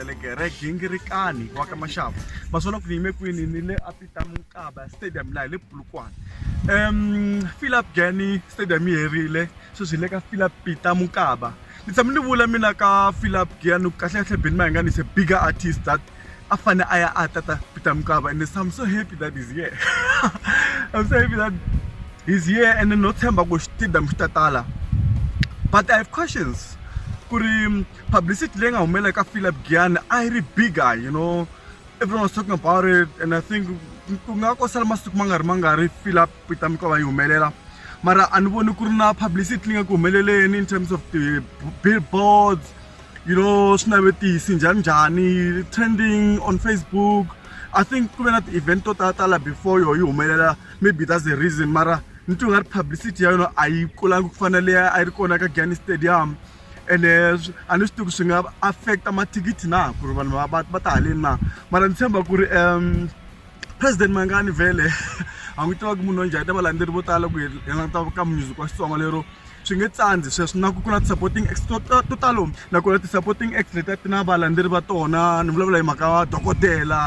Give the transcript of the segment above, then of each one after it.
Teleke re gingirikani wa ka maxava maswona ku ni yime kwini ni le a peter mukaba stadium laha hi le pulukwana um philip gani stadium yi herile sweswi hi le ka philip peter mukaba ni tshame ni vula mina ka philip gani kahlekahle beni ma hi nga ni se bigger artist that a fane a ya a tata peter mukaba and i'm so happy that is here i'm so happy that he's here and no tshemba ku stadium xi tatala but i have questions ku ri publicity leyi nga humelela ka Philip Giyani a yi ri bigger you know everyone was talking about it and I think ku nga ko sala masiku ma nga ri ma nga ri Philip Peter Mikova yi humelela mara a ni voni ku ri na publicity leyi nga ku humeleleni in terms of the billboards you know swinavetisi njhani njhani trending on Facebook I think ku ve na ti-event to tala tala before yo yi humelela maybe that's the reason mara ni twi nga ri publicity ya yona a yi kulanga ku fana leyi a yi ri kona ka Giyani Stadium ene a ni swi tivi ku swi nga affect-a mathikithi na ku ri vanhu va va ta haleni na mara ni tshemba ku ri um president mangani vhele a n'wi tiva ku munhu wa njhani ta valandzeri vo tala ku hi languta ka music wa xitsonga lero swi nge tsandzi sweswo na ku ku na ti-supporting acts to to talo nakona ti-supporting acts letiya ti na valandzeri va tona ni vulavula hi mhaka dokodela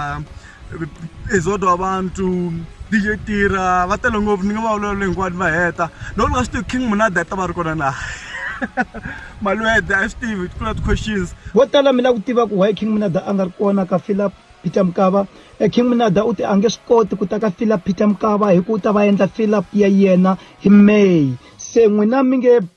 Exodo wa bantu DJ Tira va tele ngopfu ni nga va vulavula hinkwato va heta no ni nga swi tivi King Munada i ta va ri kona na Malwede a swi tivi ku na ti-questions vo tala mi lava ku tiva ku why King Munada a nga ri kona ka Fila Peter Mukaba e King Munada u te a nge swi koti ku ta ka Fila Peter Mukaba hi ku u ta va endla Fila ya yena hi May se n'wina mi nge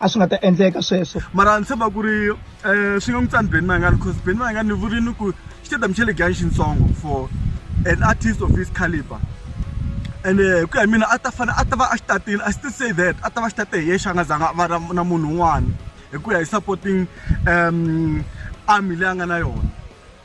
a swi nga ta endleka sweswo mara ni tshemba ku ri um swi nga n'wi tsani ben mayengani because ben mayengani ni vurini ku xitedam xa le gani xintsongo for an artist of his caliber and eh, ku ya mina a ta fanele a ta va a xi tatile i still say that a ta va xi tate hi yexe a nga zanga va na munhu un'wana hi ku ya hi supporting um army leyi a nga na yona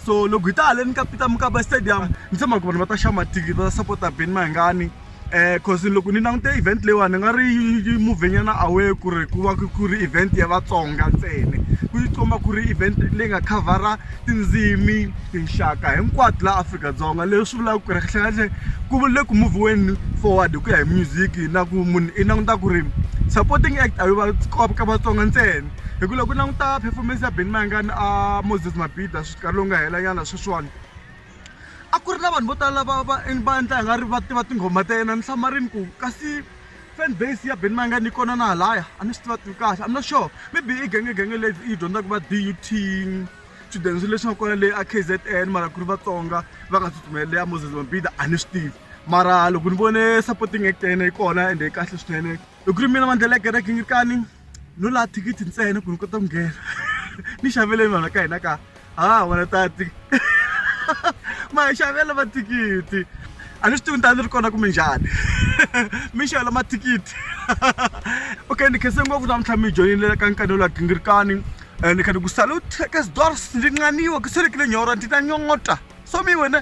so loko hi ta haleni ka peter mukaba stadium ni tshemba ku vanhu va ta xava mathikithi va ta sapota beni mahingani um cause loko ni langute event leyiwani ni nga ri yi muvenyana away ku ri ku va ku ri event ya vatsonga ntsene ku yi komba ku ri event leyi nga khavhara tindzimi tinxaka hinkwato laha afrika-dzonga leswi vulaka ku ri kahlekahle ku le ku muviweni forward hi ku ya hi music na ku munhu i languta ku ri supporting act a yo va ka vatsonga ntsena hi ku loko u languta performance ya Benny Mayengani a Moses Mabhida nkarhi lowu nga hela nyana sweswiwani a ku ri na vanhu vo tala lava va va endla nga ri va tiva tinghoma ta yena ni tshama rini ku kasi fan base ya Benny Mayengani yi kona na halaya a ni swi tiva tivi kahle I'm not sure maybe i genge genge leyi yi dyondzaka va DUT swichudeni swi leswi nga kona leyi a KZN mara ku ri Vatsonga va nga tsutsumeli leya Moses Mabhida a ni swi tivi mara loko ni vone supporting act ya yena yi kona ende yi kahle swinene hi ku ri mina Mandlele ya Gerek Ngirikani no la thikithi ntsena ku ni kota ku nghena ni xaveleni vanhu ka hina ka ha wena tati ma hi xavela mathikithi a ni swi tivi ni ta ni ri kona kumbe njhani mi xavela mathikithi okay ni khense ngopfu namuntlha mi joyinile ka nkanelo ya gingirikani um ni kha ni ku salute ka sidors ndzi nqaniwa ku selekile nyora ndzi ta nyongota so mi wena